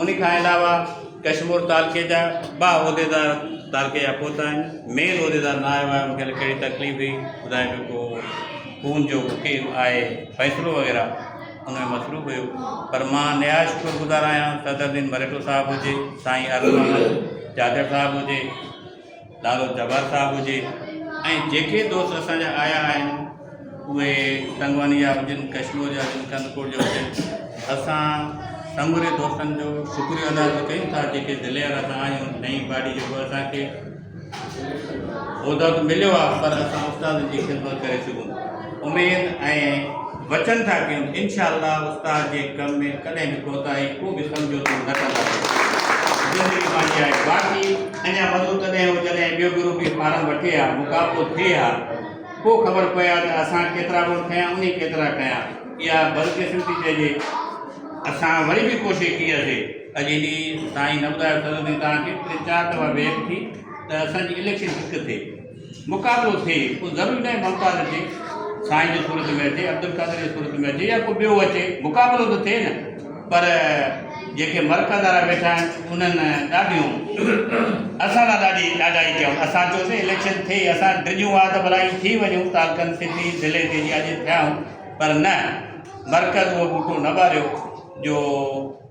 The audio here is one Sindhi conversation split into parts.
ان کان علاوه ڪشمور تعلقي جا ٻا عهديدار تعلقي جا پهتا آهن مين عهديدار نه آيو آهي ان کي ڪهڙي تڪليف هئي ٻڌائي جو ڪو خون جو وڪيل آهي فيصلو وغيره ان ۾ مصروف هيو پر مان نهايت شڪر گذار آهيان صدر الدين مرهٽو صاحب هجي سائين ارڙ محمد جاجڙ صاحب هجي نالو جبار صاحب هجي ۽ جيڪي دوست اسان جا آيا آهن اهي تنگواني جا هجن ڪشمور جا هجن ڪنڌڪوٽ جا هجن اسان سموري دوستن جو شڪريو ادا ٿو ڪيون ٿا جيڪي دلير اسان آهيون نئين پارٽي جيڪو اسان کي عهدو ته مليو آهي پر اسان استادن جي خدمت ڪري سگهون اميد ۽ وچن ٿا ڪيون انشاء الله استاد جي ڪم ۾ ڪڏهن به ڪوتاهي ڪو به سمجهوتو نه ڪنداسين زندگي ماڻي آهي باقي اڃا مزو تڏهن هو جڏهن ٻيو گرو به فارم وٺي ها مقابلو ٿئي ها پوء خبر پئي ها ته اسان ڪيترا گڻ کنيا انهي ڪيترا کنيا اها بدقسمتي چئجي اسان وري به ڪوشش ڪئي هئاسي اڄ انهي سائين نه ٻڌايو سرور سائين توهان کي ٽي چار دفعا ويڪ ٿي ته اسان جي اليڪشن ٺڪ ٿئي مقابلو ٿئي اهو ضروري ناهي ممتاز اچي سائين جي صورت ۾ اچي عبدالقادر جي صورت ۾ اچي يا ڪو ٻيو اچي مقابلو ته ٿئي نه پر جيڪي مرڪز وارا ويٺا آهن انهن ڏاڍيون اسان لاء ڏاڍي ڏاڍائي ڪيائون اسان چيوسين اليڪشن ٿئي اسان ڊڄون ها ته ڀلا ٿي وڃون تعلقن سٽي ضلعي تي جي اڄ ٿيا آهيون پر نه مرڪز اهو ٻوٽو نه ٻاريو جو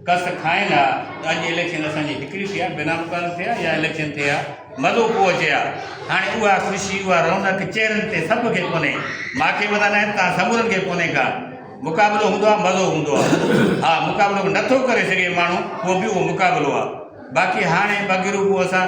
ڪس کائين ها ته اڄ اليڪشن اسان جي هڪڙي ٿي ها بنا مقرر ٿي ها يا اليڪشن ٿي ها مزو ڪو اچي ها هاڻي اها خوشي اها رونق چهرن تي سڀ کي ڪونهي ماکي مٿان نه توهان سمورن کي ڪونهي ڪا مقابلو هوندو ها مزو هوندو ها ها مقابلو نٿو ڪري سگهي ماڻهو پوء به اهو مقابلو ها باقي هاڻي بگروپ اسان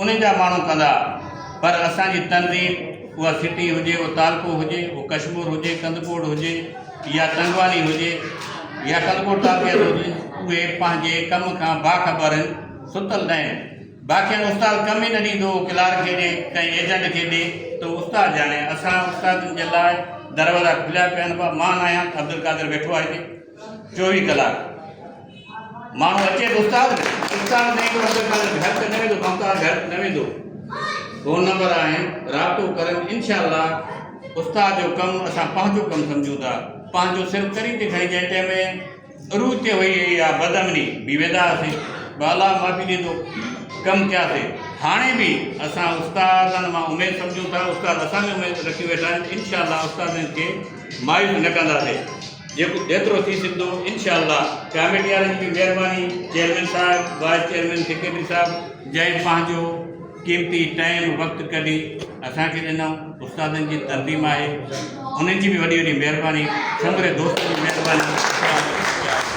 انهن جا ماڻهو ڪندا پر اسان جي تنظيم اها سٽي هجي اهو تعلقو هجي اهو ڪشمور هجي ڪنڌڪوٽ هجي يا تنگواني هجي يا ڪنڌڪوٽ تعلقي جو هجي اهي پنهنجي ڪم کان باخبر هن ستل نه هن باقين استاد ڪم ئي نه ڏيندو هو ڪلارڪ کي ڏي ڪنهن ايجنٽ کي ڏي ته استاد ڄاڻي اسان استادن جي لاء دروازا کليا پيا آهن مان آهيان عبدالقادر ويٺو آهي هتي چوويهه ڪلاڪ ماڻهو اچي به استاد به استاد نه ايندو اگر تنهنجو گهر ته نه ويندو ممتاز گهر نه ويندو فون نمبر آهن رابطو ڪريو انشاء الله استاد جو ڪم اسان پنهنجو ڪم سمجهون ٿا پنهنجو صرف ڪري ٿي کڻي جنهن ٽائم ۾ عروج تي هئي يا بد امني بي ويدا هئاسي بالا معافي ڏيندو ڪم ڪياسي هاڻي به اسان استادن مان اميد سمجهون ٿا استاد اسان ۾ اميد رکي ويٺا آهن انشاء الله استادن کي مايوس نه ڪنداسي جيڪو جيترو ٿي سگهندو انشاء الله ڪاميٽي وارن جي به مهرباني چيئرمين صاحب وائيس چيئرمين سيڪريٽري صاحب جنهن پنهنجو قيمتي ٽائيم وقت ڪڍي اسان کي ڏنو استادن جي تنظيم آهي انهن جي به وڏي وڏي مهرباني سموري دوستن جي مهرباني